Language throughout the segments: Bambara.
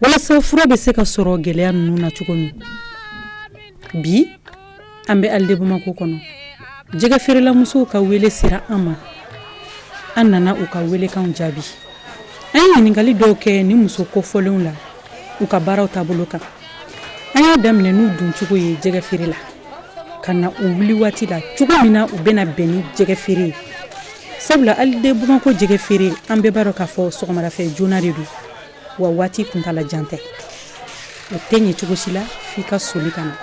walasa fura bɛ se ka sɔrɔ gɛlɛya ninnu na cogo min bi an bɛ Halles de Bamako kɔnɔ jɛgɛ feerelamusow ka wele sera an ma an nana u ka welekan jaabi an ye ɲininkali dɔw kɛ ni muso kofɔlenw la u ka baaraw taabolo kan an y'a daminɛ n'u doncogo ye jɛgɛ feere la ka na u wuli waati la cogo min na u bɛna bɛn ni jɛgɛ feere ye sabula Halles de Bamako jɛgɛ feere an bɛɛ b'a dɔn k'a fɔ sɔgɔmada fɛ joona de don wa waati kuntaala jan tɛ o tɛ ɲɛ cogo si la f'i ka soli ka na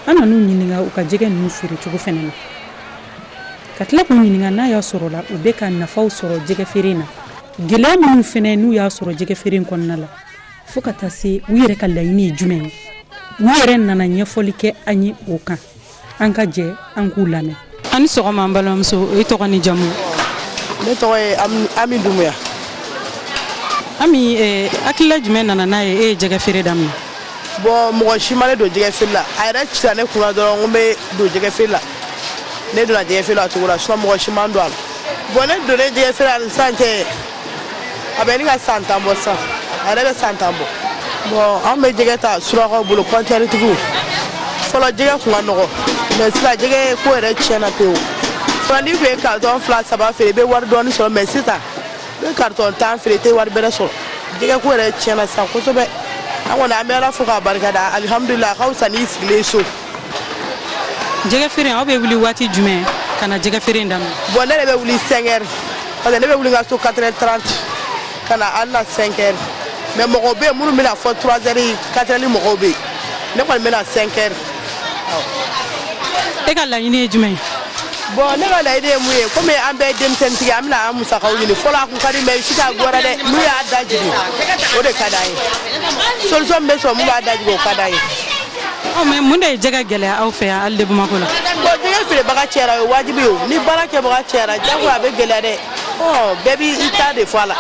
an nan'u ɲininka u ka jɛgɛ ninnu feere cogo fana na ka tila k'u ɲininka n'a y'a sɔrɔ la u bɛ ka nafaw sɔrɔ jɛgɛ feere na gɛlɛya minnu fana n'u y'a sɔrɔ jɛgɛ feere in kɔnɔna la fo ka taa se u yɛrɛ ka laɲini ye jumɛn ye u yɛrɛ nana ɲɛfɔli kɛ an ye o kan an ka jɛ an k'u lamɛn aw ni sɔgɔma an balimamuso i tɔgɔ n'i jamu ne tɔgɔ ye ami dumuya ami eh, hakilila jumɛn nana n'a ye e ye jɛgɛ feere daminɛ bɔn mɔgɔ si ma ne don jɛgɛ feere la a yɛrɛ cira ne kunna dɔrɔn ko n bɛ don jɛgɛ feere la ne donna jɛgɛ feere la o cogo la sinon mɔgɔ si ma n don a la bɔn ne donnen jɛgɛ feere la ani sisan cɛ a bɛ ɲini ka san tan bɔ sisan a yɛrɛ bɛ san tan bɔ bɔn an bɛ jɛgɛ ta surakaw bolo kɔntenɛritigiw fɔlɔ jɛgɛ tun ka nɔgɔ mɛ sisan jɛgɛ ko yɛrɛ tiɲɛna pewu fɔlɔ n'i tun ye karitɔn fila saba feere i bɛ wari dɔɔni sɔrɔ mɛ sisan i bɛ karitɔn tan feere i tɛ wari bɛrɛ sɔrɔ jɛgɛ ko yɛrɛ tiɲɛna sisan kosɛbɛ an kɔni an bɛ ala fo k'a barikada alihamudulila a ka fisa n'i sigilen so jɛgɛ feere aw bɛ wuli waati jumɛn ka na jɛgɛ feere in daminɛ. bɔn ne de bɛ wuli 5 heures parce que ne bɛ wuli n ka so 4 heures 30 ka na an na 5 heures mais mɔgɔw bɛ yen minnu bɛ na fo 3 heures 4 heures mɔgɔw bɛ yen ne kɔni bɛ na 5 heures. e ka laɲini ye jumɛn ye. bɔn ne ka laɲini ye mun ye komi an bɛɛ ye denmisɛnnin an bɛ na an musakaw ɲini fɔlɔ a kun ka di mɛ sisan a ka gɛlɛn dɛ n'u y'a da jigin o de ka d'an ye solution min bɛ sɔrɔ min b'a da jigin o ka d'an ye. ɔ mɛ mun de ye jɛgɛ gɛlɛya aw fɛ yan Halles de Bamako la bɔn jɛgɛ feerebaga cɛyara o ye wajibi ye o ni baara kɛbaga cɛyara jago a bɛ gɛlɛya dɛ ɔ bɛɛ b'i ta de fɔ a la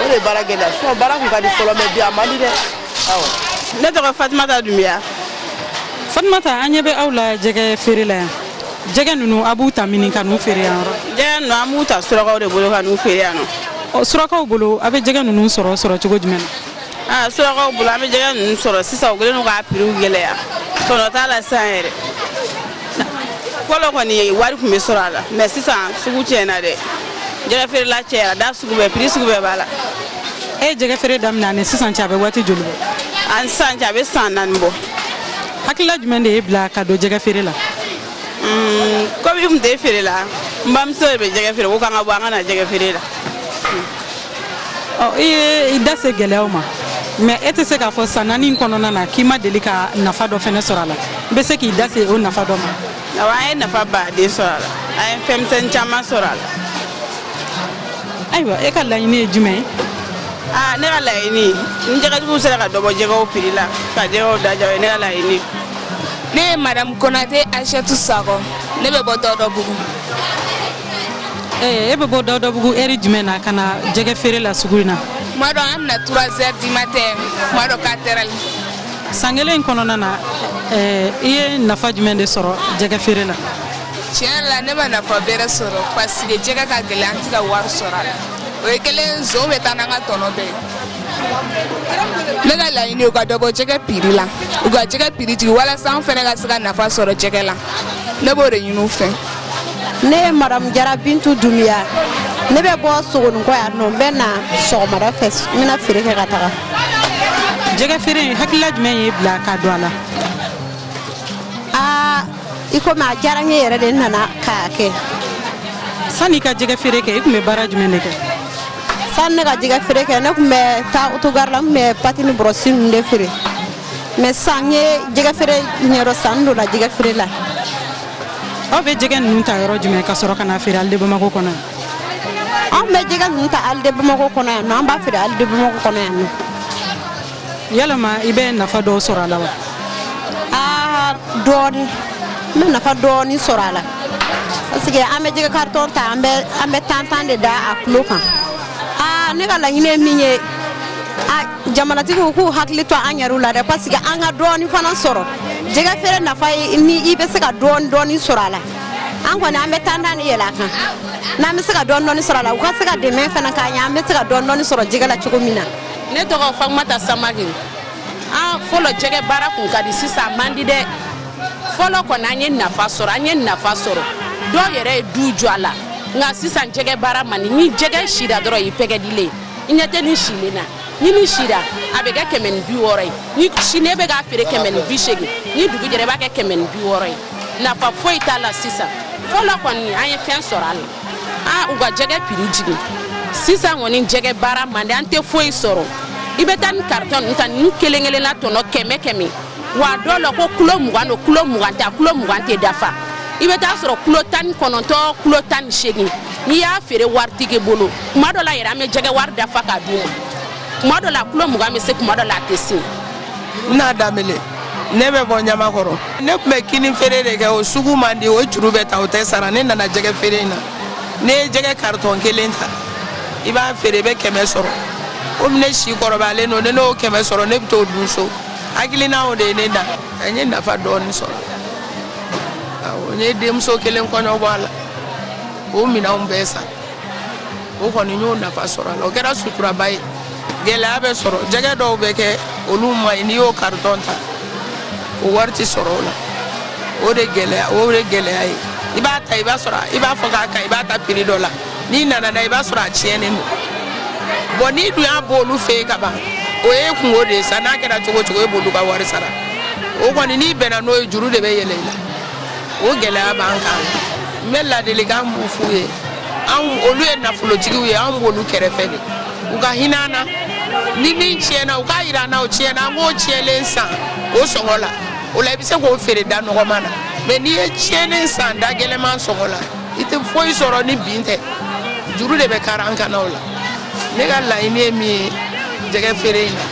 o de ye baara gɛlɛya sinɔn baara kun ka di fɔlɔ mɛ bi a man di dɛ awɔ ne tɔgɔ fatumata dunbiya fatumata an ɲɛ bɛ aw la jɛgɛ feere la yan jɛgɛ ninnu aw b'u ta mini ka n'u feere yan yɔrɔ jɛgɛ ninnu an b'u ta surakaw de bolo ka n'u feere yan nɔ ɔ surakaw bolo aw bɛ jɛgɛ ninnu sɔrɔ sɔrɔ cogo jumɛn na Ah, surakaw bolo an bɛ jɛgɛ ninnu sɔrɔ sisan u kɛlen don k'a prix gɛlɛya tɔnɔ t'a la sisan yɛrɛ fɔlɔ kɔni wari tun bɛ sɔrɔ a la mɛ sisan sugu tiɲɛna dɛ jɛgɛ feerela cɛyara da sugu bɛɛ prix sugu bɛɛ b'a la e ye jɛgɛ feere daminɛ ani sisan cɛ a bɛ waati joli bɔ ani sisan cɛ a bɛ san naani bɔ hakilila jumɛn de y'i bila ka don jɛgɛ feere la hmm, komi n tun tɛ feere la n bamuso de bɛ jɛgɛ feere ko k'an ka bɔ an ka na jɛgɛ feere la i ye i da se gɛlɛyaw ma mais e tɛ se k'a fɔ san naani kɔnɔna na k'i ma deli ka nafa dɔ fɛnɛ sɔrɔ a la i bɛ se k'i da se o nafa dɔ ma awa an ye nafaba de sɔrɔ a la an ye fɛnmisɛn caman sɔrɔ a la ayiwa e ka laɲini ye jumɛn ye aa ne ka laɲini ni jɛgɛtigiw sera ka dɔ bɔ jɛgɛw piri la ka jɛgɛw da diya o ye ne ka laɲini ne ye madamu konate aishatu sakɔ ne bɛ bɔ dawudabugu e bɛ bɔ dawudabugu ɛri jumɛn na ka na jɛgɛ feere la sugu in na kuma dɔ an na trois heures du matin kuma dɔ quatre heures san kelen in kɔnɔna na i ye nafa jumɛn de sɔrɔ jɛgɛ feere la tiɲɛ la ne ma nafa bɛrɛ sɔrɔ parce que jɛgɛ ka gɛlɛn an tɛ ka wari sɔrɔ a la o ye glaçon bɛ taa n'an ka tɔnɔ bɛɛ ye ne ka laɲini u ka dɔ bɔ jɛgɛ piri la u ka jɛgɛ piri jigin walasa an fana ka se ka nafa sɔrɔ jɛgɛ la ne b'o de ɲini u fɛ ne ye madamu jara bintu dumiya ne bɛ bɔ sogoninkɔ yan nɔ n bɛ na sɔgɔmada fɛ n bɛ na feere kɛ ka taga jɛgɛ feere in hakilila jumɛn y'i bila ka don a la aa i komi a diyara n ye yɛrɛ de n nana k'a kɛ sanni i ka jɛgɛ feere kɛ i tun bɛ baara jumɛn de kɛ sanni ne ka jɛgɛ feere kɛ ne tun bɛ taa otogari la n tun bɛ pati ni bɔrɔsi ninnu de feere mais sisan n ye jɛgɛ feere ɲɛdɔn sisan n donna jɛgɛ feere la aw bɛ jɛgɛ ninnu ta yɔrɔ jumɛn ka sɔrɔ ka na feere Halles de Bamakɔ kɔnɔ yan. anw bɛ jɛgɛ ninnu ta Halles de Bamakɔ kɔnɔ yan nɔ an b'a feere Halles de Bamakɔ kɔnɔ yan nɔ. yalama i bɛ nafa dɔw sɔrɔ a la wa. aa dɔɔni n bɛ nafa dɔɔni sɔrɔ a la parce que an bɛ jɛgɛ karitɔn ta an bɛ an bɛ tan tan de da a kilo kan aa ne ka laɲini ye min ye. jamanatigiw k'u hakili to an yɛrɛw la dɛ parce que an ka dɔɔni fana sɔrɔ jɛgɛ feere nafa ye ni i bɛ se ka dɔɔni dɔɔni sɔrɔ a la an kɔni an bɛ tan tan de yɛlɛ a kan n'an bɛ se ka dɔɔni dɔɔni sɔrɔ a la u ka se ka dɛmɛ fana k'an ye an bɛ se ka dɔɔni dɔɔni sɔrɔ jɛgɛ la cogo min na. ne tɔgɔ fatumata samake aa fɔlɔ jɛgɛ baara kun ka di sisan a man di dɛ fɔlɔ kɔni an ye nafa sɔrɔ an ye nafa sɔrɔ dɔw yɛrɛ ye du jɔ a la nka sisan jɛgɛ baara man di ni jɛgɛ sira dɔrɔn i pɛrɛdilen i ɲɛ tɛ nin silen na ni nin sira a bɛ kɛ kɛmɛ ni bi wɔɔrɔ ye ni sine bɛ k'a feere kɛmɛ ni bi seegin ni dugu jɛra i b'a kɛ kɛmɛ ni bi wɔɔrɔ ye nafa foyi t'a la sisan fɔlɔ kɔni an ye fɛn sɔrɔ a la a u ka jɛgɛ piri jigin sisan kɔni jɛgɛ baara man di an tɛ foyi sɔrɔ i bɛ taa ni karitɔn ninnu ta ninnu kelen kelenna tɔnɔ kɛmɛ kɛmɛ wa dɔw la ko kilo mugan don kilo mugan tɛ a kilo mugan tɛ dafa i bɛ taa sɔrɔ kilo tan ni kɔnɔntɔn kilo tan ni seegin n'i y'a feere waritigi bolo kuma dɔ la yɛrɛ an bɛ jɛgɛ wari dafa ka d'u ma kuma dɔ la kilo mugan bɛ se kuma dɔ la a tɛ se n na danbele ne bɛ bɔ ɲamakɔrɔ ne tun bɛ kini feere de kɛ o sugu man di o juru bɛ ta o tɛ sara ne nana jɛgɛ feere in na ne ye jɛgɛ karitɔn kelen ta i b'a feere i bɛ kɛmɛ sɔrɔ komi ne si kɔrɔbayalen don ni ne y'o kɛmɛ sɔrɔ ne bɛ t'o dun so hakilina o de ye ne da n ye nafa dɔɔni sɔrɔ awɔ n ye denmuso kelen kɔɲɔbɔ a la o minɛnw bɛɛ san o kɔni y'o nafa sɔrɔ a la o kɛra suturaba ye gɛlɛya bɛ sɔrɔ jɛgɛ dɔw bɛ kɛ olu man ɲi n'i y'o karitɔn ta o wari tɛ sɔrɔ o la o de gɛlɛya o de gɛlɛya ye i b'a ta i b'a sɔrɔ i b'a fɔ k'a ka i b'a ta piri dɔ la n'i nana n'a i b'a sɔrɔ a tiɲɛnen don bɔn n'i dun y'a bɔ olu fɛ yen ka ban o ye kunko de ye sa n'a kɛra cogo cogo e b'olu ka wari sara o kɔni n'i bɛnna n'o ye juru de bɛ yɛlɛn i la o gɛlɛya b'an kan n bɛ ladilikan min f'u ye anw olu ye nafolotigiw ye anw b'olu kɛrɛfɛ de u ka hinɛ an na ni min tiɲɛna u k'a jira an na o tiɲɛna an k'o tiɲɛlen san o sɔngɔ la o la i bɛ se k'o feere da nɔgɔma na mɛ n'i ye tiɲɛnen san da gɛlɛman sɔngɔ la i tɛ foyi sɔrɔ ni bin tɛ juru de bɛ kari an kan na o la ne ka laɲini ye min ye jɛgɛ feere in na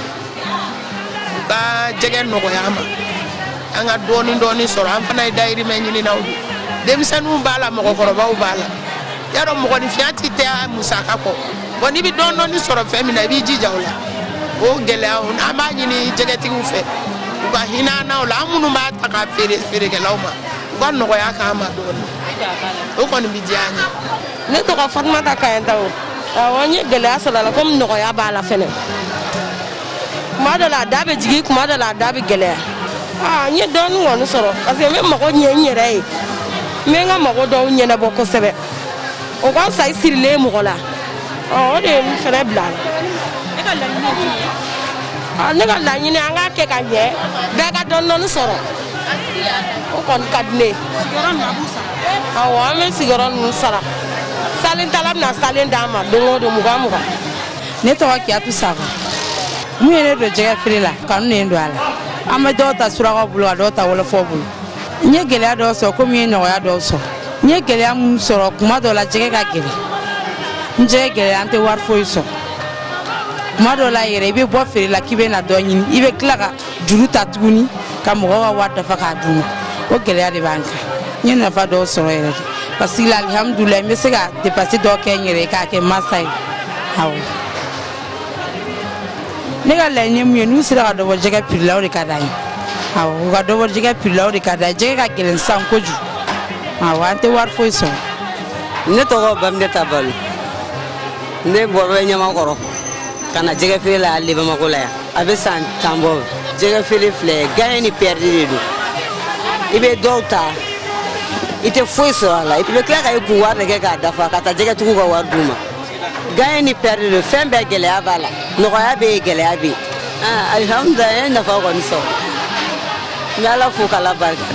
ka jɛgɛ nɔgɔya an ma an ka dɔɔni dɔɔni sɔrɔ an fana ye dayirimɛ ɲininaw de denmisɛnninw b'a la mɔgɔkɔrɔbaw b'a la y'a dɔn mɔgɔninfinya tɛ taa musaka kɔ bɔn n'i bɛ dɔɔni dɔɔni sɔrɔ fɛn min na i b'i jija o la o gɛlɛya o an b'a ɲini jɛgɛtigiw fɛ u ka hinɛ an na o la an minnu b'a ta ka feere feerekɛlaw ma u ka nɔgɔya k'an ma dɔɔni o kɔni bɛ diya an ye ne tɔgɔ fatumata kayɛntao awɔ n ye gɛlɛya sɔrɔ a la komi nɔgɔya b'a la fɛnɛ kuma dɔ la a da bɛ jigin kuma dɔ la a da bɛ gɛlɛya aa n ye dɔɔni kɔni sɔrɔ parce que n bɛ mago ɲɛ n yɛrɛ ye n bɛ n ka mago dɔw ɲɛnabɔ kosɛbɛ o ka fisa i sirilen mɔgɔ la ɔ o de ye n fɛnɛ bila a la ɔ ne ka laɲini an k'a kɛ ka ɲɛ bɛɛ ka dɔɔni dɔɔni sɔrɔ o kɔni ka di ne ye awɔ an bɛ sigiyɔrɔ ninnu sara salentala bɛ na salen d'an ma don o don mugan mugan ne tɔgɔ kiyatu sako mun ye ne don jɛgɛ feere la kanu ne don a la an bɛ dɔw ta surakaw bolo ka dɔw ta wɔlɔfɔw bolo n ye gɛlɛya dɔw sɔrɔ komi n ye nɔgɔya dɔw sɔrɔ n ye gɛlɛya minnu sɔrɔ kuma dɔw la jɛgɛ ka gɛlɛn ni jɛgɛ gɛlɛya an tɛ wari foyi sɔrɔ kuma dɔw la yɛrɛ i bɛ bɔ feere la k'i bɛ na dɔ ɲini i bɛ tila ka juru ta tuguni ka mɔgɔ ka wari dafa k'a d'u ma o gɛlɛya de b'an kan n ye nafa dɔw sɔrɔ yɛrɛ dɛ parce que alihamudulayi n bɛ se ka depansi dɔ kɛ n yɛrɛ k'a kɛ masa ye awɔ ne ka laɲini ye mun ye n'u sera ka dɔ bɔ jɛgɛ piri la o de ka d'an ye awɔ u ka dɔ bɔ jɛgɛ piri la o de ka d'an ye jɛgɛ ka gɛlɛn sisan kojugu awɔ an tɛ wari foyi sɔrɔ ne tɔgɔ baminɛta balo ne bɔyɔrɔ bɛ ɲamakɔrɔ ka na jɛgɛ feere la halles bamakɔ la yan a bɛ san tan bɔ jɛgɛ feere filɛ gaɲɛ ni pɛridi de don i bɛ dɔw ta i tɛ foyi sɔrɔ a la i bɛ tila ka i kun wari de kɛ k'a dafa ka taa jɛgɛtigiw ka wari d'u ma gaɲɛ ni pɛridi don fɛn bɛɛ gɛlɛya b'a la nɔgɔya bɛ yen gɛlɛya bɛ yen ah, alihamudulila n ye nafa kɔni sɔrɔ n bɛ ala fo k'ala barika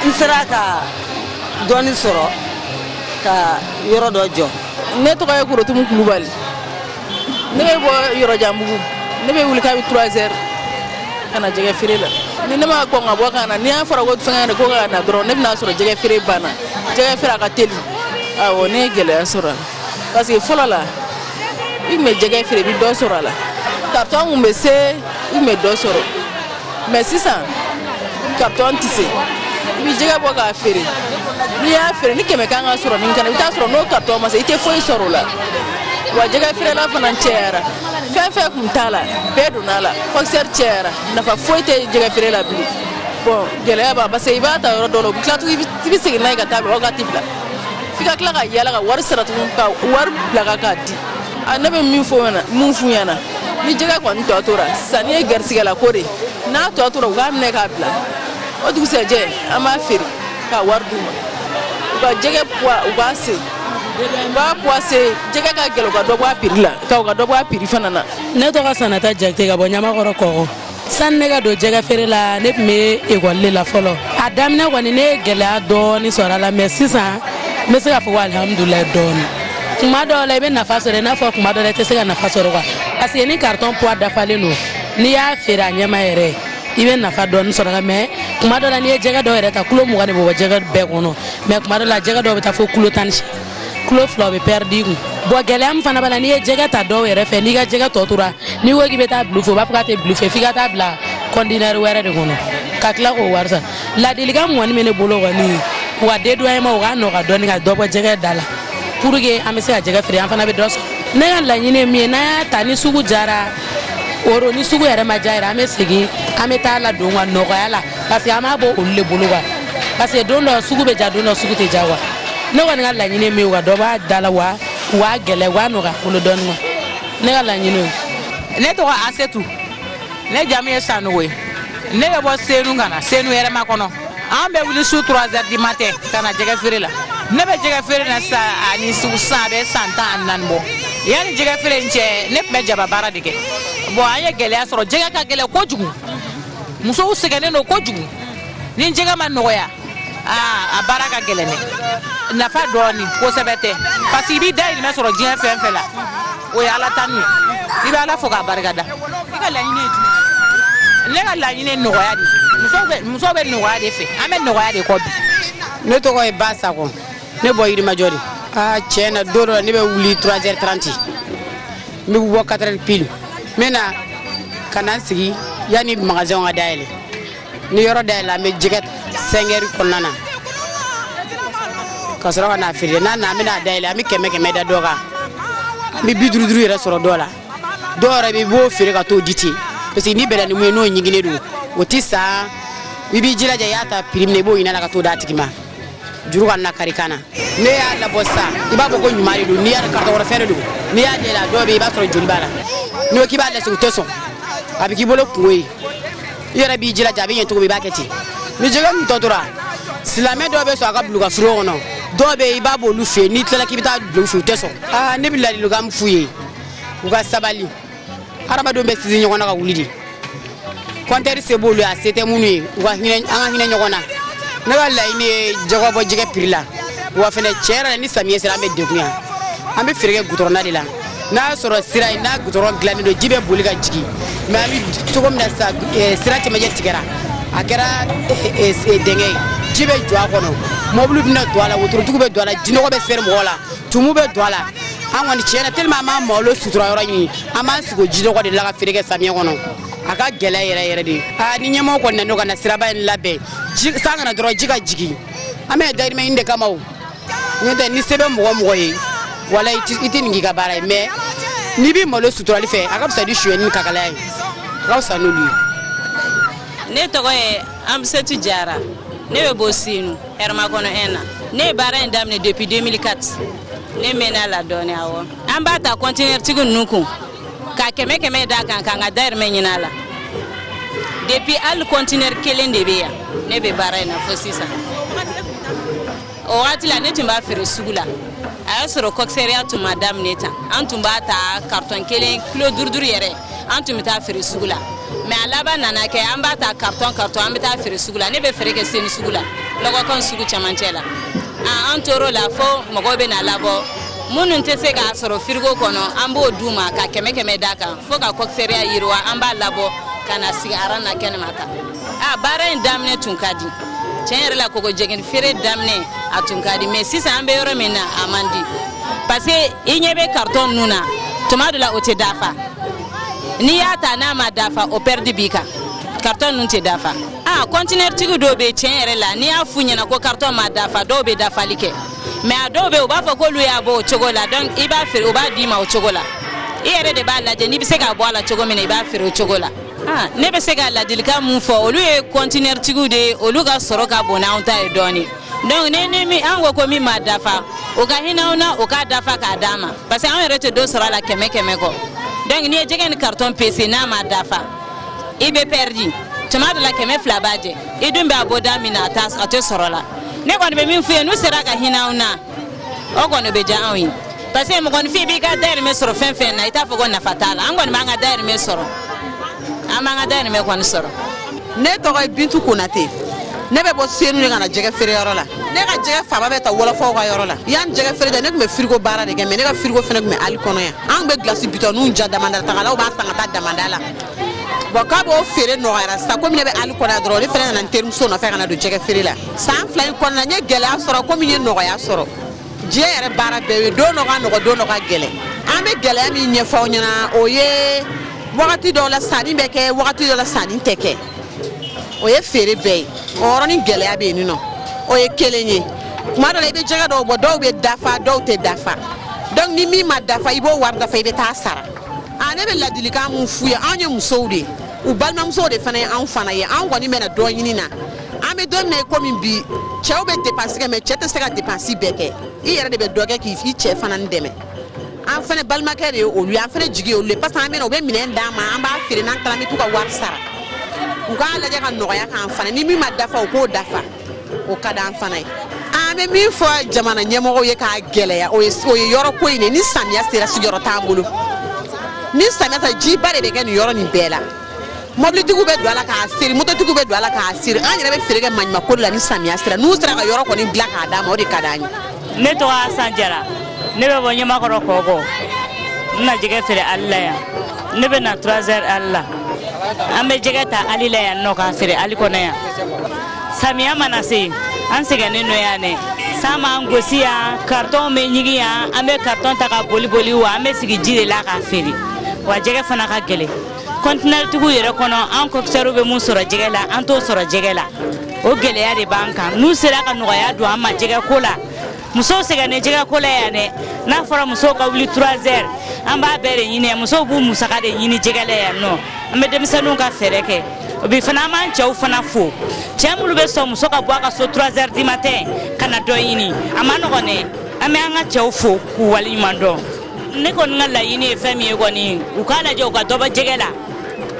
n sera ka dɔɔni sɔrɔ ka yɔrɔ dɔ jɔ ne tɔgɔ ye korotumu kulubali ne bɛ bɔ yɔrɔjanbugu ne bɛ wuli kabi 3 heures ka na jɛgɛ feere la ni ne ma kɔn ka bɔ ka na ni a fɔra ko fɛngɛ de ko ka na dɔrɔn ne bɛn'a sɔrɔ jɛgɛ feere banna jɛgɛ feere a ka teli awɔ ne ye gɛlɛya sɔrɔ a la parce que fɔlɔ la i tun bɛ jɛgɛ feere i bɛ dɔ sɔrɔ a la carton tun bɛ se i tun bɛ dɔ sɔrɔ mɛ sisan karitɔn tɛ se i bɛ jɛgɛ bɔ k'a feere n'i y'a feere ni kɛmɛ kan ka sɔrɔ min kana i bɛ taa sɔrɔ n'o karitɔn ma se i tɛ foyi sɔrɔ o la wa jɛgɛ feerela fana cayara fɛn fɛn kun t'a la bɛɛ donna a la kɔkisɛri cayara nafa foyi tɛ jɛgɛ feere la bilen bɔn gɛlɛya b'a parce que i b'a ta yɔrɔ dɔ la u bɛ tila tugun i bɛ segin n'a ye ka taa bila wagati bila f'i ka tila ka yaala ka wari sara tugun ka wari bila ka k'a di ah, ne bɛ min min f'u ɲɛna ni jɛgɛ kɔni tɔ tora sanni ye garisigɛ la ko de n'a tɔ tora u k'a minɛ k'a bila o dugusɛjɛ an b'a feere ka wari d'u ma u ka jɛgɛ puwa u k'a se u k'a puwa se jɛgɛ ka gɛlɛn u ka dɔ bɔ a piri la ka u ka dɔ bɔ a piri fana na ne tɔgɔ sanata jakite ka bɔ ɲamakɔrɔ kɔkɔ sani ne ka don jɛgɛ feere la ne tun bɛ ekɔli de la fɔlɔ a daminɛ kɔni ne ye gɛlɛya dɔɔni sɔrɔ a la mɛ sisan n bɛ se k'a fɔ ko alihamudulilayi dɔɔni tuma dɔw la i bɛ nafa sɔrɔ i n'a fɔ tuma dɔw la i tɛ se ka nafa sɔrɔ kuwa parce que ni karitɔn puwa dafalen don n'i y'a feere a ɲɛma yɛrɛ i bɛ nafa dɔɔni sɔrɔ a la mɛ tuma dɔw la n'i ye jɛgɛ dɔw yɛrɛ ta kilo mugan de bɛ bɔ jɛgɛ bɛɛ kɔnɔ mɛ tuma dɔw la jɛgɛ dɔw bɛ taa fo kilo tan ni seegin kilo fila bɛ pɛridi i kun bɔn gɛlɛya min fana b'a la n'i ye jɛgɛ ta dɔw yɛrɛ fɛ n'i ka jɛgɛ tɔ tora n'i ko k'i bɛ t'a bil'u fɛ u b'a fɔ k'a tɛ bil'u fɛ f'i ka taa bila kɔntinɛri wɛrɛ de kɔnɔ ka tila k'o wari sara laadilikan min kɔni bɛ ne bolo kɔni u ka dédouanement u k'a nɔgɔya dɔɔni ka dɔ bɔ jɛgɛ da la pour que an bɛ se ka jɛgɛ feere an fana bɛ dɔ sɔrɔ ne ka laɲini ye min ye n'an y'a ta ni sugu jara wo ni sugu yɛrɛ ma ja yɛrɛ an bɛ segin an bɛ taa ladon ka nɔgɔya la parce que an b'a bɔ olu de bolo wa parce que don dɔ sugu bɛ ja don dɔ sugu tɛ ja wa ne kɔni ka laɲini min ye wa dɔ b'a da la wa u b'a gɛlɛ u b'a nɔgɔya bolo dɔɔni wa ne ka laɲini o ye. ne tɔgɔ asetu ne jamu ye sanogo ye ne bɛ bɔ senu ka na senu hɛrɛmakɔnɔ an bɛ wuli su 3 heures du matin ka na jɛgɛ feere la ne bɛ jɛgɛ feere na sa ani sisan a bɛ san tan ani naani bɔ yanni jɛgɛ feere in cɛ ne tun bɛ jaba baara de kɛ bon an ye gɛlɛya sɔrɔ jɛgɛ ka gɛlɛn kojugu musow sɛgɛnnen don kojugu ni jɛgɛ ma nɔgɔya aa a baara ka gɛlɛn dɛ nafa dɔɔni kosɛbɛ tɛ parce que i b'i dayirimɛ sɔrɔ diɲɛ fɛn fɛn la o ye ala tanu ye i bɛ ala fo k'a barika da i ka laɲini ye jumɛn ne ka laɲini ye nɔgɔya de ye muso bɛ muso bɛ nɔgɔya de fɛ an bɛ nɔgɔya de kɔ bi ne tɔgɔ ye ba sago ne bɛ bɔ yirimajɔ de aa tiɲɛ na don dɔ la ne bɛ wuli 3h30 n bɛ bɔ 4h pile n bɛ na ka na n sigi yanni magasɛnw ka dayɛlɛ ni yɔrɔ dayɛlɛla an bɛ jɛgɛ sɛgɛrɛ kɔnɔna na ka sɔrɔ ka n'a feere n'a na an bɛ n'a dayɛlɛ an bɛ kɛmɛ kɛmɛ da dɔ kan an bɛ bi duuru duuru yɛrɛ sɔrɔ dɔw la dɔw yɛrɛ bɛ i b'o feere ka t'o di ten parce que n'i bɛnna ni min ye n'o ɲiginnen don o tɛ san i b'i jilaja i y'a ta piri min na i b'o ɲin'a la ka t'o d'a tigi ma juru kana kari kan na n'i y'a labɔ sisan i b'a fɔ ko ɲuman de don n'i y'a kari tɔ kɔrɔfɛn de don n'i y'a yɛlɛ dɔw bɛ yen i b'a sɔrɔ joli b'a la n'i ko k'i b'a lasegin u tɛ sɔn a bɛ k'i bolo kunko ye i yɛrɛ b'i jilaja a bɛ ɲɛ cogo min i b'a kɛ ten ni jɛgɛ min tɔ tora silamɛ dɔw bɛ sɔn a ka bil'u ka froid kɔnɔ dɔw bɛ yen i b'a b'olu fɛ yen n'i tilala k'i bɛ t'a bila u fɛ yen u tɛ sɔn aa ne bɛ ladilikan min f'u ye u ka sabali hadamadenw bɛ sinsin ɲɔgɔn na ka wuli de kɔntinɛri se b'olu ye a se tɛ minnu ye u ka hinɛ an ka hinɛ ɲɔgɔn na ne ka laɲini ye dɔ ka bɔ jɛgɛ piri la wa fɛnɛ tiɲɛ yɛrɛ la ni samiyɛ sera an bɛ degun yan an bɛ feere kɛ gudɔrɔn da de la n'a y'a sɔrɔ sira in n'a gudɔrɔn dilannen don ji bɛ boli ka jigin mais an bɛ cogo min na sa eh, sira cɛmancɛ tigɛra a kɛra eh, eh, dingɛ ye ji bɛ jɔ a kɔnɔ mɔbiliw bɛna don a la wotorotigi bɛ don a la jinɔgɔ bɛ seri mɔgɔ la tumu bɛ don a la an kɔni tiɲɛ na tellement an b'an malo sutura yɔrɔ ɲini an b'an sigi o jinɔgɔ de la ka feere kɛ samiyɛ kɔnɔ a ka gɛlɛ yɛrɛ yɛrɛ de aa ni ɲɛmɔgɔ kɔni nan'u ka na siraba in labɛn san ka na dɔrɔn ji ka jigin an bɛ dayirimɛ ɲini de kama o n'o tɛ ni se bɛ mɔgɔ o mɔgɔ ye walayi i tɛ nin k'i ka baara ye mais n'i bɛ malo suturali fɛ a ka fisa ni sonyɛni ni kakalaya ye a ka fisa n'olu ye ne tɔgɔ ye amsetu jara ne bɛ bɔ senu hɛrɛmakɔnɔ 1 na ne ye baara in daminɛ depuis 2004 ne mɛnn'a la dɔɔni awɔ an b'a ta kɔntinɛritigi ninnu kun ka kɛmɛ kɛmɛ d'a kan k'an ka dayirimɛ ɲini a la depuis hali kɔntinɛri kelen de bɛ yan ne bɛ baara in na fo sisan o wagati la ne tun b'a feere sugu la a y'a sɔrɔ kɔkisɛriya tun ma daminɛ tan an tun b'a ta karitɔn kelen kilo duuru duuru yɛrɛ an tun bɛ taa feere sugu la mɛ a laban nana kɛ an b'a ta karitɔn karitɔn an bɛ taa feere sugu la ne bɛ feere kɛ senu sugu la lɔgɔtɔn sugu cɛmancɛ la an tor'o la fo mɔgɔw bɛ na labɔ minnu tɛ se k'a sɔrɔ firigo kɔnɔ an b'o d'u ma ka kɛmɛ kɛmɛ d'a kan fo ka kɔkisɛriya yiriwa an b'a labɔ ka n'a sigi aran na kɛnɛma kan a baara in daminɛ tun ka di tiɲɛ yɛrɛ la kɔgɔjɛgɛnin feere daminɛ a tun ka di mɛ sisan an bɛ yɔrɔ min na a man di parce que i ɲɛ bɛ karitɔn ninnu na tuma dɔ la o tɛ dafa n'i y'a ta n'a ma dafa o pɛridi b'i kan karitɔn ninnu tɛ dafa a kɔntinɛritigi dɔw bɛ tiɲɛ yɛrɛ la n'i y'a f'u ɲɛna ko karitɔn ma dafa dɔw bɛ dafali kɛ mɛ a dɔw bɛ u b'a fɔ k'olu y'a bɔ o cogo la donc i b'a feere u b'a d'i ma o cogo la i yɛrɛ de b'a lajɛ n'i bɛ se k'a bɔ a la cogo min na i b'a feere o cogo la Ah, ne bɛ se ka ladilikan mun fɔ olu ye kɔntinɛritigiw de ye olu ka sɔrɔ ka bon n'anw ta ye dɔɔni donc ne ni min an ko ko min ma dafa o ka hin'anw na o k'a dafa k'a d'an ma parce que an yɛrɛ tɛ dɔ sɔrɔ a la kɛmɛ kɛmɛ kɔ donc n'i ye jɛgɛnin carton pese n'a ma dafa i bɛ pɛridi tuma dɔ la kɛmɛ fila b'a jɛ i dun bɛ a bɔ da min na a t'a a tɛ sɔr'a la ne kɔni bɛ min f'u ye n'u sera ka hin'anw na o kɔni bɛ diya anw ye parce que mɔgɔninfin b'i ka dayirimɛ sɔrɔ fɛn fɛn na i t'a fɔ ko nafa t'a la an kɔni b'an ka dayirimɛ sɔrɔ an b'an ka dayirimɛ kɔni sɔrɔ ne tɔgɔ ye bintu konate ne bɛ bɔ senu de ka na jɛgɛ feere yɔrɔ la ne ka jɛgɛ fanba bɛ ta wɔlɔfɔw ka yɔrɔ la yan jɛgɛ feere tɛ ne tun bɛ firigo baara de kɛ mɛ ne ka firigo fana tun bɛ ali kɔnɔ yan an tun bɛ gilasi bidɔninw ja damanda tagalaw b'a san ka taa damanda la bɔn kab'o feere nɔgɔyara sa komi ne bɛ ali kɔnɔ yan dɔrɔn ne fana nana n terimuso nɔfɛ ka na don jɛgɛ feere la san fila in kɔnɔna n ye gɛlɛya sɔrɔ komi n ye nɔgɔya sɔrɔ diɲɛ yɛrɛ baara bɛɛ ye don dɔ ka nɔgɔ don dɔ ka gɛlɛn an bɛ gɛlɛya min ɲɛfɔ aw ɲɛna o ye wagati dɔw la sanni bɛ kɛ wagati dɔw la sanni tɛ kɛ o ye feere bɛɛ ye o yɔrɔnin gɛlɛya bɛ yen nɔ o ye kelen ye tuma dɔ la i bɛ jɛgɛ dɔw bɔ dɔw bɛ dafa dɔw tɛ dafa donc ni min ma dafa i b'o wari dafa i bɛ taa sara a ne bɛ ladilikan mun f'u ye anw ye musow de ye u balimamusow de fana ye anw fana ye anw kɔni bɛna dɔ ɲini na an bɛ don min na i komi bi cɛw bɛ depansi kɛ mɛ cɛ tɛ se ka depansi bɛɛ kɛ i yɛrɛ de bɛ dɔ kɛ k'i cɛ fana dɛmɛ an fana balimakɛ de ye olu ye an fana jigi ye olu ye parce que an bɛ na u bɛ minɛn d'an ma an b'a feere n'an taara an bɛ t'u ka wari sara u k'a lajɛ ka nɔgɔya k'an fana ni min ma dafa u k'o dafa o ka d'an fana ye an bɛ min fɔ jamana ɲɛmɔgɔw ye k'a gɛlɛya o ye o ye yɔrɔ ko in de ye ni samiya sera sigiyɔrɔ t'an bolo ni samiya sera jiba de bɛ kɛ nin yɔrɔ nin bɛɛ la mɔbilitigiw bɛ don a la k'a seri mototigiw bɛ don a la k'a seri an yɛrɛ bɛ feere kɛ maɲuman ko de la ni samiya sera n'u sera ka yɔrɔ kɔni dilan k'a d'an ma o de ka d'an ye. ne tɔgɔ asan jara ne bɛ bɔ ɲamakɔrɔ kɔkɔ n na jɛgɛ feere ali la yan ne bɛ na trois heures ali la an bɛ jɛgɛ ta ali la yan nɔ k'a feere ali kɔnɔ yan samiya mana se an sɛgɛnnen don yan dɛ san b'an gosi yan karitɔnw bɛ ɲigin yan an bɛ karitɔn ta ka boli boli wa an bɛ sigi ji de la k'a feere wa jɛgɛ fana ka gɛlɛn kɔntinɛritigiw yɛrɛ kɔnɔ an kɔkisɛriw bɛ mun sɔrɔ jɛgɛ la an t'o sɔrɔ jɛgɛ la o gɛlɛya de b'an kan n'u sera ka nɔgɔya don an ma jɛgɛ ko la musow sɛgɛnnen jɛgɛ ko la yan dɛ n'a fɔra musow ka wuli 3 heures an b'a bɛɛ de ɲini musow b'u musaka de ɲini jɛgɛ la yan nɔ an bɛ denmisɛnninw ka fɛɛrɛ kɛ o bi fana an b'an cɛw fana fo cɛ minnu bɛ sɔn muso ka bɔ a ka so 3 heures du matin ka na dɔ ɲini a man nɔgɔn dɛ an bɛ an ka cɛw fo k'u waleɲuman dɔn ne kɔni ka laɲini ye fɛn min ye kɔni u k'a lajɛ u ka dɔ bɔ jɛgɛ la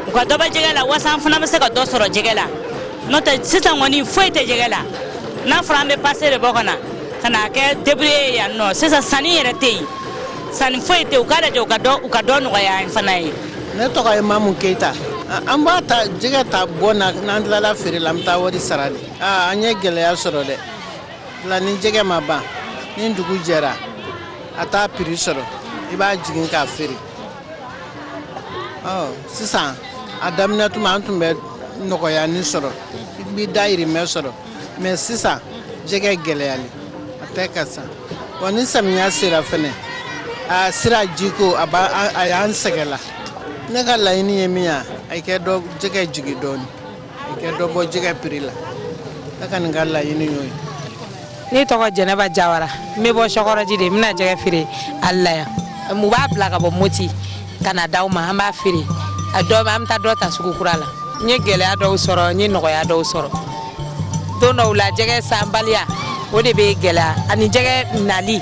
u ka dɔ bɔ jɛgɛ la walasa an fana bɛ se ka dɔ sɔrɔ jɛgɛ la n'o tɛ sisan kɔni foyi tɛ jɛgɛ la n'a fɔra an bɛ pase de bɔ ka na ka n'a kɛ debrouiller ye yan nɔ sisan sanni yɛrɛ tɛ yen sanni foyi tɛ yen u k'a lajɛ u ka dɔ u ka dɔ nɔgɔya an fana ye. ne tɔgɔ ye mamu keyita an b'a ta jɛgɛ ta bɔn na n'an tilala feere la an bɛ taa wari sara de an ye gɛlɛya sɔrɔ dɛ. Bila ni jɛgɛ ma ban ni dugu jɛra a t'a piri sɔrɔ i b'a jigin k'a feere sisan a daminɛ tuma an tun bɛ nɔgɔyanin sɔrɔ i bɛ dayirimɛ sɔrɔ mais sisan jɛgɛ gɛlɛyalen a tɛ ka san wa ni samiya sera fana a sira jiko a a y'an sɛgɛn la ne ka laɲini ye min ye a ka jɛgɛ jigin dɔɔnin i ka dɔ bɔ jɛgɛ piri la a ka ne ka laɲini y'o ye ne tɔgɔ jɛnɛba jawara n bɛ bɔ sɔkɔrɔji de n bɛ na jɛgɛ feere ali la yan u b'a bila ka bɔ moti ka na d'anw ma an b'a feere a dɔ an bɛ taa dɔ ta sugu kura la n ye gɛlɛya dɔw sɔrɔ n ye nɔgɔya dɔw sɔrɔ don dɔw la jɛgɛ sanbaliya o de bɛ gɛlɛya ani jɛgɛ nali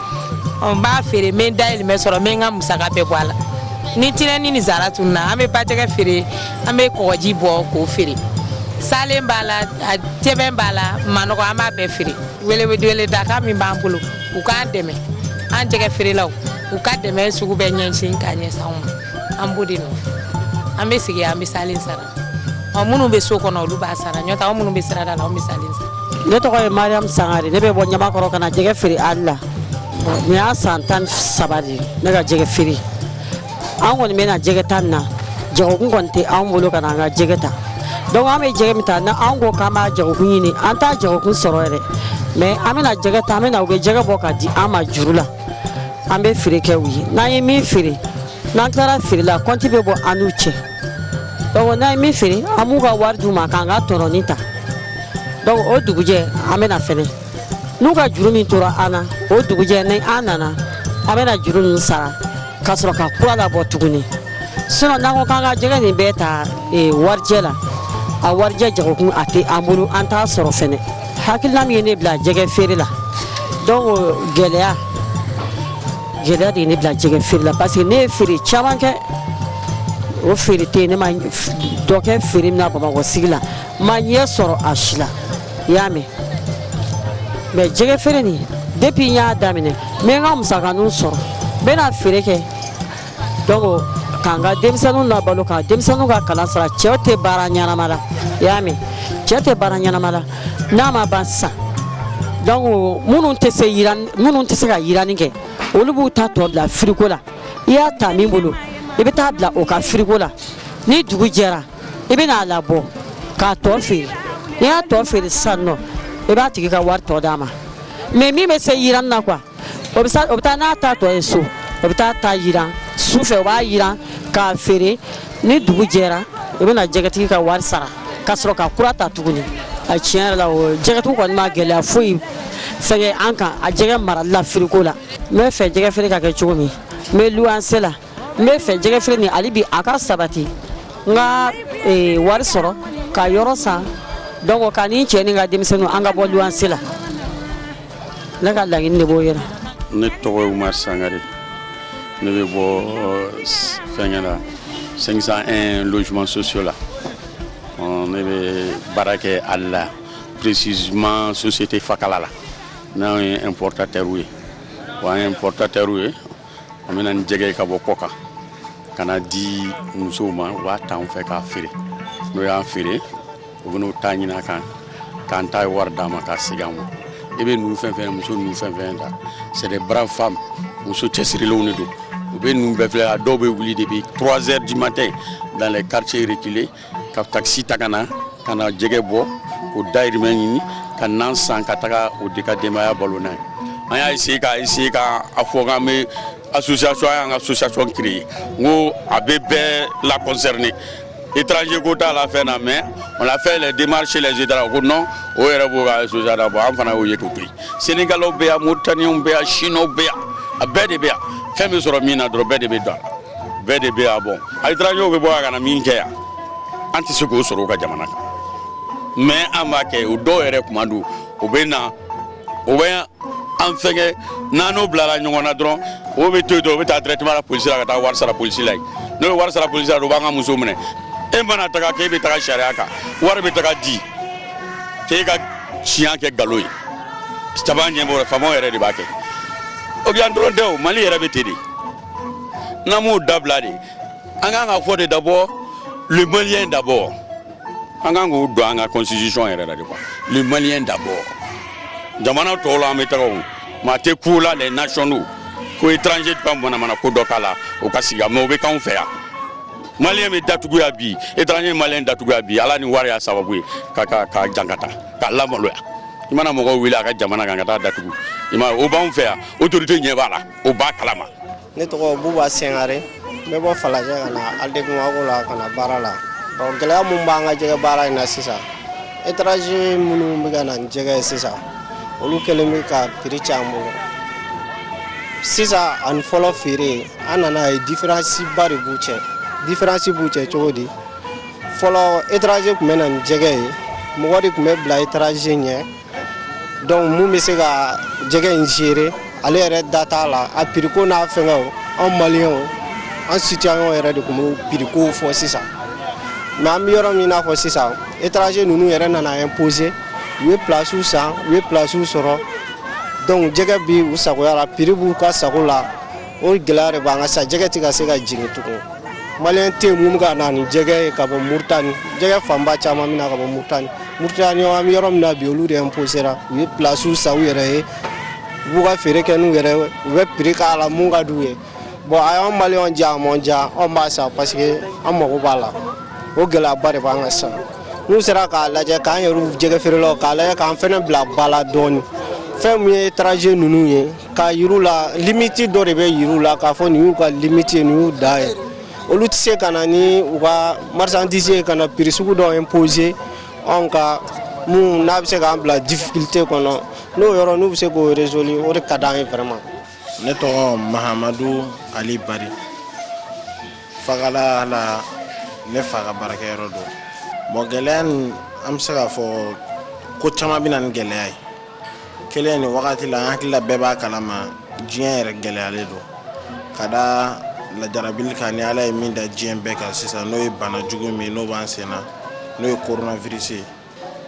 n b'a feere n bɛ n dayirimɛ sɔrɔ n bɛ n ka musaka bɛɛ bɔ a la ni tinɛni ni zara tununa an bɛ bajɛgɛ feere an bɛ kɔgɔji bɔ k'o feere salen b'a la ntɛbɛn b'a la manɔgɔ an b'a bɛɛ feere weleweleda kan min b'an bolo u k'an dɛmɛ an jɛgɛ feerelaw u ka dɛmɛ sugu bɛɛ ɲɛsin k'a ɲɛsin anw ma an b'o de nɔfɛ an bɛ sigi an bɛ salen sara ɔ minnu bɛ so kɔnɔ olu b'a sara n'o tɛ anw minnu bɛ sirada la anw bɛ salen sara ne tɔgɔ ye mariam sangare ne bɛ bɔ ɲamakɔrɔ ka na jɛgɛ feere ali la nin y'a san tan ni saba de ye ne ka jɛgɛ feere an kɔni bɛ na jɛgɛ ta nin na jagokun kɔni tɛ anw bolo ka na an ka jɛgɛ ta donc an bɛ jɛgɛ min ta na anw ko k'an b'a jagokun ɲini an t'a jagokun sɔrɔ yɛrɛ mais an bɛ na jɛgɛ ta an bɛ na u bɛ jɛgɛ bɔ ka di an ma juru la an bɛ feere kɛ u ye n'an ye min feere n'an tilara feere la kɔnti bɛ bɔ an n'u cɛ donc n'an ye min feere an b'u ka wari d'u ma k'an ka tɔnɔnin ta donc o dugujɛ an bɛna fɛnɛ n'u ka juru min tora an na o dugujɛ ni an nana an bɛna juru ninnu sara ka sɔrɔ ka kura labɔ tuguni sinon n'an ko k'an ka jɛgɛ nin bɛɛ ta e, warijɛ la a warijɛ jagokun a tɛ an bolo an t'a sɔrɔ fɛnɛ hakilina min ye ne bila jɛgɛ feere la donc gɛlɛya gɛlɛya de ye ne bila jɛgɛ feere la parce que ne ye feere caman kɛ o feere tɛ ne ma dɔ kɛ feere min na bamakɔ sigi la n ma ɲɛ sɔrɔ a si la i y'a mɛn mais jɛgɛ feere nin depuis n y'a daminɛ n bɛ n ka musakaninw sɔrɔ n bɛna feere kɛ donc k'an ka denmisɛnninw labalo ka denmisɛnninw ka kalan sara cɛw tɛ baara ɲɛnama la i y'a mɛn cɛ tɛ baara ɲɛnama la n'a ma ban sisan donc minnu tɛ se yiran minnu tɛ se ka yiranni kɛ olu b'u ta tɔ bila firiko la i y'a ta min bolo i bɛ taa bila o ka firiko la ni dugu jɛra i bɛ n'a labɔ k'a tɔ feere n'i y'a tɔ feere sisan nɔ i b'a tigi ka wari tɔ d'a ma mais min bɛ se yiranni na quoi o bɛ taa n'a ta tɔ ye so o bɛ taa t'a jiran su fɛ o b'a jiran k'a feere ni dugu jɛra o bɛ na jɛgɛtigi ka wari sara ka sɔrɔ ka kura ta tuguni a tiɲɛ yɛrɛ la o jɛgɛtigiw kɔni ma gɛlɛya foyi fɛnkɛ an kan a jɛgɛ marali la firiko la n b'a fɛ jɛgɛ feere ka kɛ cogo min n bɛ luwanse la n b'a fɛ jɛgɛfeere nin hali bi a ka sabati n ka eh, wari sɔrɔ ka yɔrɔ san donc ka n ni n cɛ ni n ka denmisɛnninw an ka bɔ luwanse la ne ka laɲini de b'o yɛrɛ ne tɔgɔ ye umar sangare ne bɛ bɔ eh, s- fɛnkɛ la 501 logements sociaux la Ɔ, ne bɛ baara kɛ halles la précisément société fakala la n'anw ye importateurs ye wa an ye importateurs ye an bɛ na ni jɛgɛ ye ka bɔ kɔkan ka n'a di musow ma u b'a ta an fɛ k'a feere n'o y'a feere u bɛn'o ta ɲini a kan k'an ta ye wari d'an ma k'a segin an ma i bɛ ninnu fɛn fɛn muso ninnu fɛn fɛn ta c'est des braves femmes muso cɛsirilenw de don u bɛ ninnu bɛɛ filɛ a dɔw bɛ wuli depuis 3 heures du matin dans les quartiers reculés ka takisi ta ka na ka na jɛgɛ bɔ k'o dayirimɛ ɲini ka nan san ka taga o di ka denbaya balo n'a ye an y'a essayer ka essayer ka a fɔ k'an bɛ association an y'an ka association créer n ko a bɛ bɛɛ la concerner étranger ko t'a la fɛn na mais on a fait les démarches les étrangers ko non o yɛrɛ b'o ka association labɔ an fana y'o ye k'o to yen sénégalaw bɛ yan mauritaniens bɛ yan chinois bɛ yan a bɛɛ de bɛ yan fɛn bɛ sɔrɔ min na dɔrɔn bɛɛ de bɛ don a la bɛɛ de bɛ yan bon étrangerw bɛ bɔ yan ka na min kɛ yan an tɛ se k'o sɔrɔ u ka jamana kan mais an b'a kɛ o dɔw yɛrɛ tuma dɔ u bɛ na u bɛ an fɛnkɛ n'an n'o bilara ɲɔgɔn na dɔrɔn o bɛ to yen dɔrɔn o bɛ taa directement la polisi la ka taa wari sara polisi la yen n'o ye wari sara polisi la dɔrɔn u b'an ka muso minɛ e mana taga k'e bɛ taga sariya kan wari bɛ taga di k'e ka tiɲɛ kɛ nkalon ye caman ɲɛmɔgɔ faamaw yɛrɛ de b'a kɛ o bɛ yan dɔrɔn tɛ o mali yɛrɛ bɛ ten de n'an b'o dabila de an ka kan k'a fɔ de d'abord le malien d'abord an ka kan k'o don an ka constitution yɛrɛ la de quoi le malien d'abord jamana tɔw la an bɛ taga o maa tɛ ko la les nationaux ko étranger tɛ ka manamana ko dɔ k'a la o ka sigi mais o bɛ k'anw fɛ yan maliyɛn bɛ datugu yan bi étranger ye maliyɛn datugu yan bi ala ni wari y'a sababu ye ka ka ka jan ka taa k'a lamaloya i mana mɔgɔw wele a ka jamana kan ka taa datugu i ma o b'anw fɛ yan autorité ɲɛ b'a la o b'a kalama ne tɔgɔ buba sangare n bɛ bɔ falajɛ ka na halles de bamako la ka na baara la ɔ gɛlɛya mun b'an ka jɛgɛ baara in na sisan étranger minnu bɛ ka na ni jɛgɛ ye sisan olu kɛlen bɛ ka piri tiɲɛ an bolo sisan ani fɔlɔ feere an nana a ye différence ba de b'u cɛ différence b'u cɛ cogo di fɔlɔ étranger tun bɛ na ni jɛgɛ ye mɔgɔ de tun bɛ bila étranger ɲɛ donc mun bɛ se ka jɛgɛ in feere ale yɛrɛ da t'a la a piriko n'a fɛnkɛ an maliyɛnw an citoyen yɛrɛ de tun bɛ pirikow fɔ sisan mais an bɛ yɔrɔ min n'a fɔ sisan étranger ninnu yɛrɛ nana imposer u ye plasiw san u ye plasiw sɔrɔ donc u jɛgɛ bɛ u sagoya la piri b'u ka sago la o gɛlɛya de b'an kan sa jɛgɛ tɛ ka se ka jigin tugun maliyɛn tɛ mun ka na ni jɛgɛ ye ka bɔ Muritani jɛgɛ fanba caman bɛ na ka bɔ Muritani Muritani an bɛ yɔrɔ min na bi olu de imposera u ye pilasiw san u yɛrɛ ye u b'u ka feere kɛ n'u yɛrɛ u bɛ piri k'a la mun ka d'u ye bon a y'an maliyɛnw diya a m'an diya anw b'a san parce que an mago b'a la o gɛlɛyaba de b'an kan sa n'u sera k'a lajɛ k'an yɛrɛ jɛgɛ feerelaw k'a lajɛ k'an fana bila ba la dɔɔnin fɛn min ye étranger ninnu ye K'a yira u la limiti dɔ de bɛ yira u la k'a fɔ nin y'u ka limiti ye nin y'u da ye olu tɛ se ka na ni u ka marchandise ka na piri sugu dɔ imposer anw kan min n'a bɛ se k'an bila difficulté kɔnɔ n'o yɔrɔ n'u bɛ se k'o résolu o de ka di an ye vraiment ne tɔgɔ mahamadu ali bari fagala la ne fa ka baarakɛyɔrɔ don bon gɛlɛya in an bɛ se k'a fɔ ko caman bɛ na ni gɛlɛya ye kelen nin wagati la an hakilila bɛɛ b'a kalama diɲɛ yɛrɛ gɛlɛyalen don ka da lajarabili kan ni ala ye min da diɲɛ bɛɛ kan sisan n'o ye bana jugu min n'o b'an sen na n'o ye coronavirus ye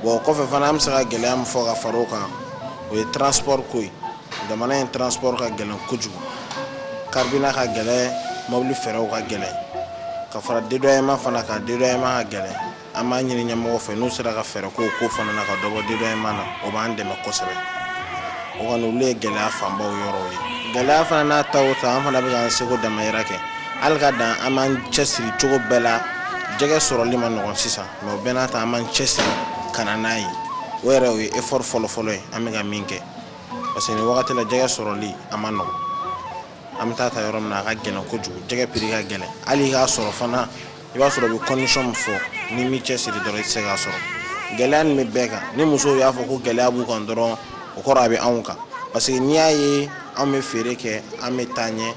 bɔn kɔfɛ fana an bɛ se ka gɛlɛya min fɔ ka fara o kan o ye transport ko ye jamana in transport ka gɛlɛn kojugu carburant ka gɛlɛn mobili fɛrɛw ka gɛlɛn ka fara dédouanement fana kan dédouanement ka gɛlɛn an b'a ɲini ɲɛmɔgɔw fɛ n'u sera ka fɛɛrɛ k'o ko fana na ka dɔ bɔ dédouanement na o b'an dɛmɛ kosɛbɛ o kɔni olu ye gɛlɛya fanbaw yɔrɔw ye gɛlɛya fana n'a ta o ta an fana bɛ k'an seko damayira kɛ hali ka dan an b'an cɛsiri cogo bɛɛ la jɛgɛ sɔrɔli man nɔgɔn sisan mɛ o bɛɛ n'a ta an b'an cɛsiri ka na n'a ye o yɛrɛ o ye effort fɔlɔfɔlɔ ye an bɛ ka min kɛ parce que nin wagati la jɛgɛ sɔrɔli a man nɔgɔn an bɛ taa ta yɔrɔ min na a ka gɛlɛn kojugu jɛgɛ piri ka gɛlɛn hali k'a sɔrɔ fana i b'a sɔrɔ u bɛ condition min fɔ n'i m'i cɛsiri dɔrɔn i tɛ se k'a sɔrɔ gɛlɛya in bɛ bɛɛ kan ni musow y'a fɔ ko gɛlɛya b'u kan dɔrɔn o kɔrɔ a bɛ anw kan parce que n'i y'a ye an bɛ feere kɛ an bɛ taa ɲɛ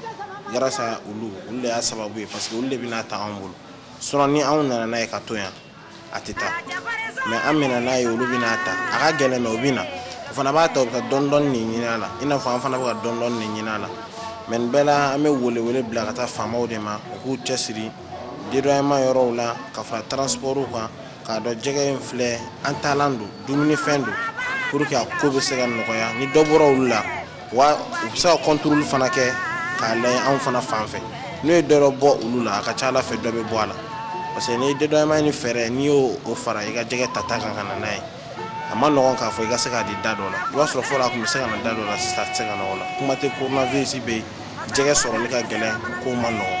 grâce à olu olu de y'a sababu ye parce que olu de bɛ n'a ta anw bolo sinon ni anw nana n'a ye k'a to yan a tɛ taa mɛ an bɛ na n'a ye olu bɛ n'a ta a ka gɛlɛn mɛ u bɛ na u fana b'a ta u bɛ ka dɔɔndɔɔnin ɲini a la i n'a fɔ an fana bɛ ka dɔɔndɔɔnin ɲini a la mɛ nin bɛɛ la an bɛ welewele bila ka taa faamaw de ma u k'u cɛsiri dédouanement yɔrɔw la ka fara transpɔrw kan k'a dɔn jɛgɛ in filɛ an taalan don dumunifɛn don pour que a ko bɛ se ka nɔgɔya ni dɔ bɔra olu la wa u bɛ se ka contrôle fana kɛ k'a la anw fana fan fɛ n'o ye dɔ bɔ olu la a ka ca ala fɛ dɔ bɛ bɔ a la parce que dédouanement ni fɛrɛ n'i y'o o fara i ka jɛgɛ ta ta kan ka na n'a ye a man nɔgɔn k'a fɔ i ka se k'a di da dɔ la i b'a sɔrɔ fɔlɔ a tun bɛ se ka na da dɔ la sisan se ka nɔgɔ la kuma tɛ kosɛbɛ yen jɛgɛ sɔrɔli ka gɛlɛn ko man nɔgɔn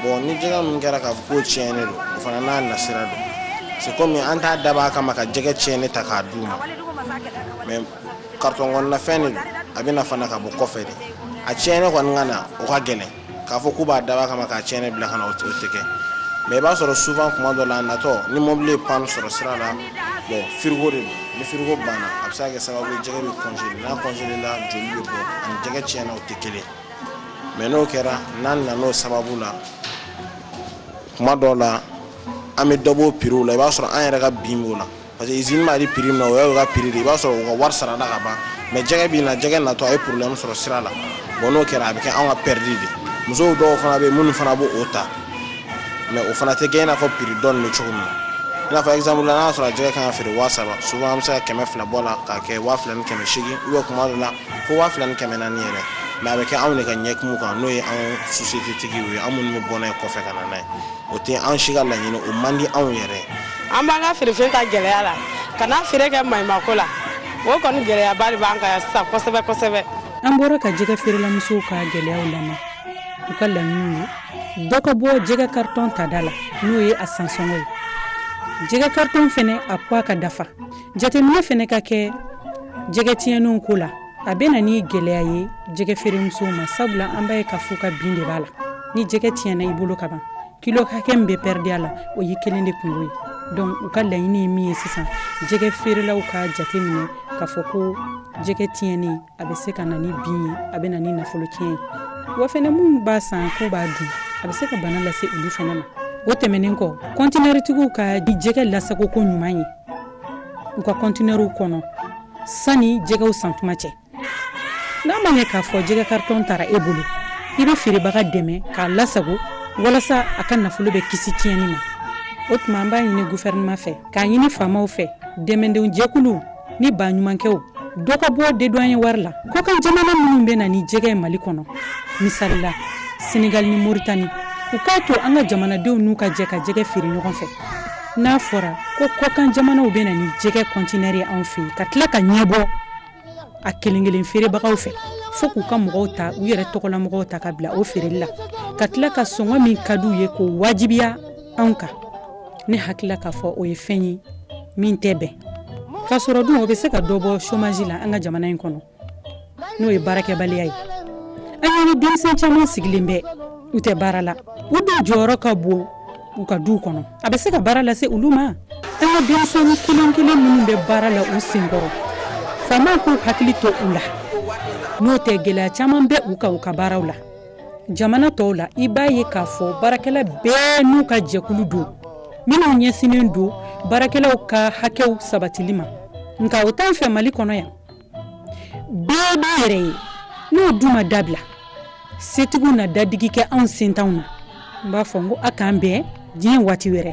bɔn ni jɛgɛ min kɛra ka ko tiɲɛnen don o fana n'a nasira don se kɔmi an t'a dab'a kama ka jɛgɛ tiɲɛnen ta k'a d di u ma karitɔn kɔnɔnafɛn de a bɛ na fana ka bɔ kɔfɛ de a tiɲɛnen kɔni ka na o ka gɛlɛn k'a fɔ k'u b'a dab'a kama k'a tiɲɛnen bila ka na o tɛ kɛ mɛ i b'a sɔrɔ souvent kuma dɔ la a natɔ ni mɔbili ye panne sɔrɔ sira la bɔn firigo de don ni firigo banna a bɛ se ka kɛ sababu ye jɛgɛ bɛ kɔnsele n'a kɔnselela joli bɛ bɔ ani jɛgɛ tiɲɛnen o tɛ kelen mɛ n'o kɛra n'an nan'o sababu la kuma dɔw la an bɛ dɔ b'o piriw la i b'a sɔrɔ an yɛrɛ ka bin b'o la parce que izini b'a di piri min na o y'o ka piri de i b'a sɔrɔ u ka wari sarada ka ban mɛ jɛgɛ bɛ na jɛgɛ natɔ a ye problème sɔrɔ sira la bon n'o kɛra a bɛ kɛ anw ka pɛridi de musow dɔw fana bɛ yen minnu fana b'o o ta mɛ o fana tɛ kɛ i n'a fɔ piri donnen bɛ cogo min na i n'a fɔ exemple la n'a sɔrɔ jɛgɛ kan ka feere waa saba souvent an bɛ se ka kɛmɛ fila bɔ a la k'a kɛ waa fila ni kɛmɛ seegin ou bien kuma dɔ la fo waa fila ni kɛmɛ naani yɛrɛ mɛ a bɛ kɛ anw de ka ɲɛkumu kan n'o ye anw sosiyete tigiw ye an minnu bɛ bɔ n'a ye kɔfɛ ka na n'a ye o tɛ an si ka laɲini o man di anw yɛrɛ an b'an ka feerefɛn ta gɛlɛya la ka n'a feere kɛ maɲumako la o kɔni gɛlɛyaba de b'an kan yan sisan kosɛbɛ kosɛbɛ an bɔra ka jɛgɛ feerelamusow ka gɛlɛyaw lamɛn u ka laɲiniw ye dɔ ka bɔ jɛgɛ karitɔn tada la n'o ye a sansɔngɔ ye jɛgɛ karitɔn fɛnɛ a puwa ka dafa jateminɛ fɛnɛ ka kɛ jɛgɛ tiɲɛnenw ko la a bɛ na ni gɛlɛya ye jɛgɛ feeremusow ma sabula an b'a ye k'a f'u ka bin de b'a la ni jɛgɛ tiɲɛna i bolo ka ban kilo hakɛ min bɛ pɛridi a la o y'i kelen de kunko ye donc u ka laɲini ye min ye sisan jɛgɛ feerelaw ka jate minɛ k'a fɔ ko jɛgɛ tiɲɛni a bɛ se ka na ni bin ye a bɛ na ni nafolo tiɲɛ ye wa fɛnɛ minnu b'a san k'u b'a dun a bɛ se ka bana lase olu fana ma o tɛmɛnen kɔ kɔntinɛritigiw ka jɛgɛ lasagoko ɲuman ye u ka kɔntinɛriw kɔnɔ sani jɛgɛw san tuma cɛ n'a ma ɲɛ k'a fɔ jɛgɛ karitɔn tara e bolo i bɛ feerebaga dɛmɛ k'a lasago walasa a ka nafolo bɛ kisi tiɲɛni ma o tuma an b'a ɲini gufɛrɛnɛma fɛ k'a ɲini faamaw fɛ dɛmɛdon jɛkuluw ni baɲumankɛw dɔ ka bɔ dédouaner wari la kɔkan jamana minnu bɛ na ni jɛgɛ ye mali kɔnɔ misali la senegali ni moritani u k'a to an ka jamanadenw n'u ka jɛ ka jɛgɛ feere ɲɔgɔn fɛ n'a fɔra ko kɔkan jamanaw bɛ na ni jɛgɛ kɔntinɛri ye anw fɛ ka tila ka ɲɛbɔ a kelen kelen feerebagaw fɛ fo k'u ka mɔgɔw ta u yɛrɛ tɔgɔla mɔgɔw ta ka bila o feereli la ka tila ka sɔngɔ min ka di u ye k'o wajibiya anw kan ne hakilila k'a fɔ o ye fɛn ye min tɛ bɛn k'a sɔrɔ dun o bɛ se ka dɔ bɔ chômage la an ka jamana in kɔnɔ n'o ye baarakɛbaliya ye an y'an ni denmisɛn caman sigilen bɛ u tɛ baara la u dun jɔyɔrɔ ka bon u ka duw kɔnɔ a bɛ se ka baara lase olu ma an ka denmisɛnnin kelen kelen minnu bɛ baara la u senkɔrɔ faamaw k'u hakili to u la n'o tɛ gɛlɛya caman bɛ u kan u ka baaraw la jamana tɔw la i b'a ye k'a fɔ baarakɛla bɛɛ n'u ka jɛkulu don minnu ɲɛsinnen don baarakɛlaw ka hakɛw sabatili ma nka o t'an fɛ mali kɔnɔ yan bɛɛ b'i yɛrɛ ye n'o dun ma dabila setigiw na dadigi kɛ anw setanw na n b'a fɔ n ko a k'an bɛn diɲɛ waati wɛrɛ